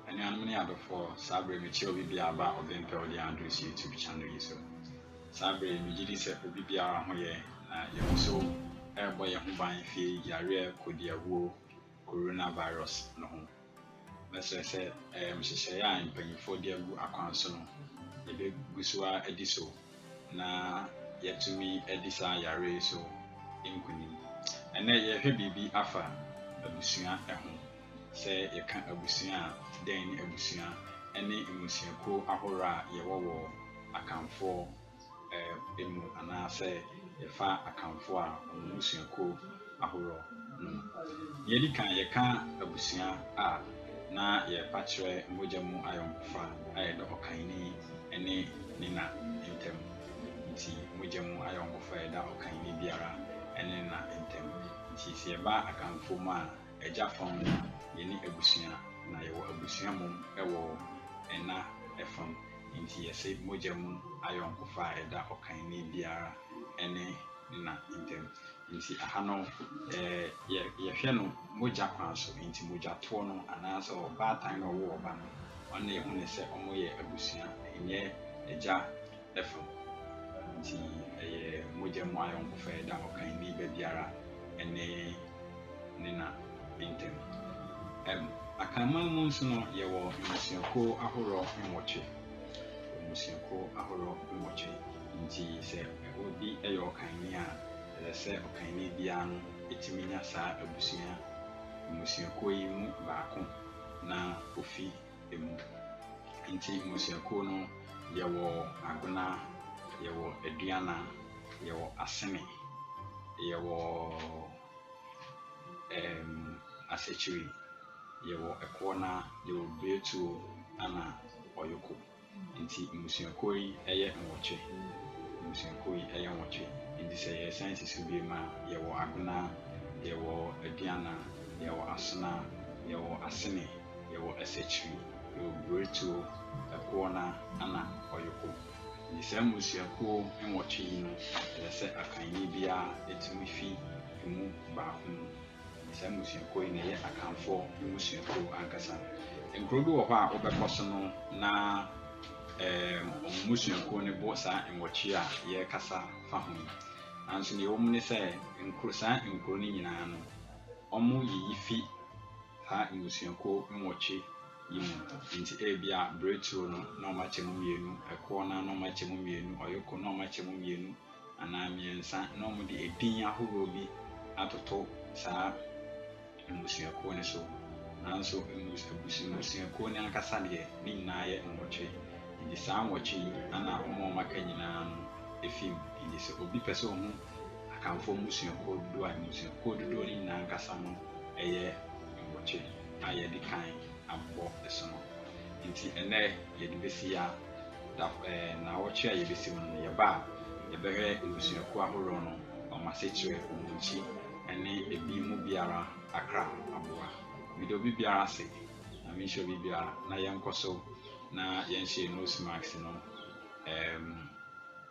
Anuanom ne adɔfoɔ, saa berɛ yi mekyerɛ obi biara aba a ɔbɛmpɛ ɔde yɛn adress YouTube channel yi so. Saa berɛ yi megye di sɛ obi biara ho yɛ na yɛn nso ɛrebɔ yɛn ho ban firi yareɛ kodiawuo, coronavirus, no ho. Mɛsrɛ sɛ ɛyɛ nhyehyɛeɛ a mpanyinfoɔ de agu akwan so no yɛbɛgu so ara adi so. na yɛatumi adi saa yare yi so nkunim. Ɛnnɛ yɛrehwɛ biribi afa abusua ho. Sɛ yɛka abusua a, dɛn ne abusua? Ɛne mmusuakuo ahorow a yɛwɔ wɔ Akanfoɔ mu anaasɛ yɛfa Akanfoɔ a wɔn mmusuakuo ahorow no mu. Nea edi kan, yɛka abusua a, na yɛrepa kyerɛ mogya mu ayɔnkofa a ɛda ɔkanni ne ne na ntam. Enti mogya mu ayɔnkofa a ɛda ɔkanni biara ne ne na ntam. Enti sɛ yɛba Akanfoɔ mu a, agya fam no, yɛne abusua, na yɛwɔ abusua mmom wɔ ɛna fam. Enti yɛse mogya mu ayɔnkofa a ɛda ɔkanni biara ne ne na ntam. Nti aha no yɛ yɛhwɛ no mogya kwan so, nti mogyatoɔ no anaa sɛ ɔbaatan na ɔwo ɔba no wɔn na yɛhu no sɛ wɔn yɛ abusua ɛnyɛ agya ɛfa mu, nti ɛyɛ mogya mu ayɔnkofa ɛda ɔkanni ba biara ɛne ne na ntɛm. Ɛm Akanman mu nso no yɛwɔ mmusuakuo ahorɔ nwɔtwe, mmusuakuo ahorɔ nwɔtwe. Enti sɛ obi yɛ ɔkanni a, ɛsɛ sɛ ɔkanni biara no tumi nya saa abusua, mmusuakuo yi mu baako na ɔfi mu. Enti mmusuakuo no, yɛwɔ Agona, yɛwɔ Aduana, yɛwɔ Asene, yɛwɔ ɛɛm Asekyiri, yɛwɔ Ɛkoɔna, yɛwɔ Breatuo ɛna Ɔyoko. Nti mmusuakuo yi yɛ nwɔtwe. Mmusuakuo yi yɛ nwɔtwe. Nti sɛ yɛresan si so biom a, yɛwɔ Agona, yɛwɔ Aduana, yɛwɔ Asona, yɛwɔ Asene, yɛwɔ Asakyiri, yɛwɔ Buretuo, Ɛkoɔna ɛna Ɔyoko. Nti saa mmusuakuo nwɔtwe yi no, ɛsɛ sɛ Akanni biara tumi fi ɛmu baako mu. Na saa mmusuakuo yi na ɛyɛ Akanfoɔ mmusuakuo ankasa. Nkuro bi wɔ hɔ a wobɛkɔ so no na um, wɔn mmusuakuo no bɔ saa nwɔtwe a yɛrekasa fa ho yi. Nanso deɛ ɛwɔ mu ne sɛ nkuro, saa nkuro no nyinaa no, wɔyiyi fi saa mmusuakuo nwɔtwe yi mu. Nti ebia Breturo no na wɔakyɛ mu mmienu, Ɛkoɔ no na wɔakyɛ mu mmienu, Ɔyoko na wɔakyɛ mu mmienu, anaa mmiɛnsa na wɔde edin ahorow bi atoto saa mmusuakuo no so. Nanso mmus abus mmusuakuo no ankasa deɛ, ne nyinaa yɛ nwɔtwe. Enti saa nwɔtwe yi na wɔn a wɔaka nyinaa no fi mu. Enti sɛ obi pɛ sɛ ɔhu Akanfoɔ mmusuakuo dodoɔ a, mmusuakuo dodoɔ no nyinaa ankasa no yɛ nwɔtwe a yɛadi kan abɔ so no. Enti ɛnnɛ, yɛde bɛsi yi ara, da ɛɛ naawɔtwe a yɛbɛsi mu no no, yɛba a, yɛbɛhwɛ mmusuakuo ahoroɔ no, wɔn asekyerɛ, wɔn nkyi, ne ebi mu biara akra aboa. Meda obi biara ase. Nyame nhyira obi biara na yɛnkɔ so na yɛnhyɛ yɛn nose mask no. Ɛɛm,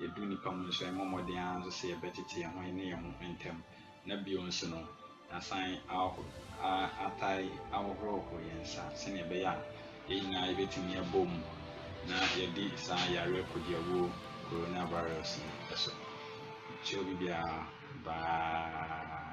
yɛdu nnipa mu nso, yɛmmɔ mmɔden ara nso sɛ yɛbɛtete yɛn ho, yɛne yɛn ho ntam. Na bio nso no, yɛasan ahoh a atai ahohoroho yɛn nsa sɛnea ɛbɛyɛ a yɛn nyinaa yebetumi abom na yɛadi saa yare kodiawuo coronavirus no so. Kyerɛ obi biara bye.